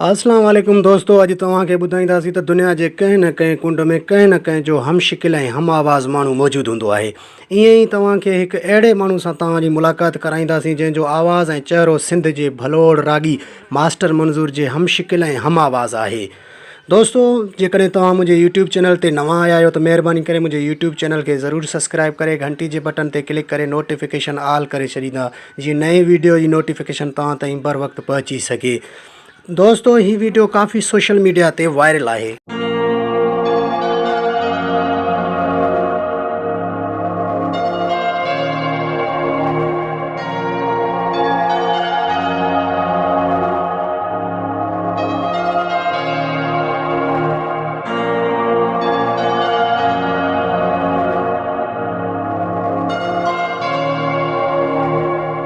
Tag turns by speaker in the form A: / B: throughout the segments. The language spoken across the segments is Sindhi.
A: السلام عليڪم دوستو اڄ توهان کي ٻڌائينداسين ته دنيا جي ڪنهن نه ڪنهن ڪنڊ ۾ ڪنهن نه ڪنهن جو هم شڪل ۽ هم آواز ماڻهو موجود هوندو آهي ائين ئي توهان کي هڪ اهڙي ماڻهو سان توهان جي ملاقات ڪرائينداسين جنهن جو آواز ۽ چهرو سنڌ جي ڀلوڙ راڳي ماسٽر منظور جي هم شڪل ۽ هم آواز آهي دوستو جيڪڏهن توهان منهنجي يوٽيوب چينل تي نوان آيا آهيو ته مهرباني ڪري منهنجي يوٽيوب چينل کي ضرور سبسڪرائب ڪري گهنٽي جي بٽن تي ڪلڪ ڪري نوٽيفڪيشن آل ڪري ڇڏيندا جيئن نئين ويڊيو جي نوٽيفڪيشن توهان تائين بر وقت پهچي سگهي دوستو هي ويڊيو ڪافي سوشل ميڊيا تي وائرل آهي.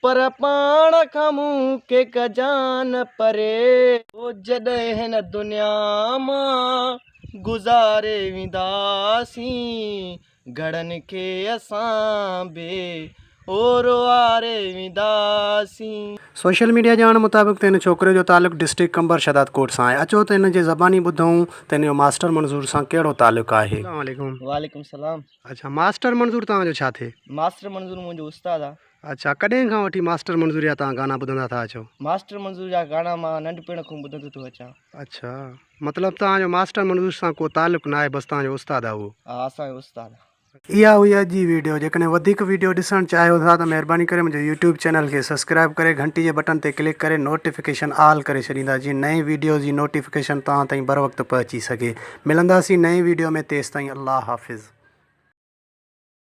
B: پر پاڻ کان مون کي ڪجان نه پري. او جڏهن هن دنيا مان گذاري وينداسين گهڙن کي اسان به او روئاري وينداسين. سوشل ميڊيا
A: ڄاڻ مطابق ته ان ڇوڪري جو تعلق ڊسٽرڪٽ قمبر شهدادڪوٽ سان آهي اچو ته ان جي زباني ٻڌون ته ان جو ماسٽر منظور سان ڪهڙو تعلق آهي. السلام عليڪم. وعليڪم السلام.
B: اڇا ماسٽر
A: منظور توهان جو ڇا ٿئي؟ ماسٽر منظور منهنجو
B: استاد آ. اڇا ڪڏهن کان وٺي
A: ماسٽر منظور جا توهان گانا ٻڌندا ٿا اچو؟ ماسٽر منظور جا
B: گانا مان ننڍپڻ کون ٻڌندو ٿو اچان. اڇا
A: مطلب توهان جو ماسٽر منظور سان ڪو تعلق ناهي بس توهان جو استاد آ اهو. ها اسان جو استاد
B: آ. اها هئي اڄ جي
A: ويڊيو جيڪڏهن وڌيڪ ويڊيو ڏسڻ چاهيو ٿا ته مهرباني ڪري منهنجو يوٽيوب چينل کي سبسڪرائب ڪري گهنٽي جي بٽن تي ڪلڪ ڪري نوٽيفڪيشن آل ڪري ڇڏيندا جيئن نئين ويڊيوز جي نوٽيفڪيشن توهان تائين بروقت پهچي سگهي ملنداسين نئين ويڊيو ۾ تيستائين الله حافظ.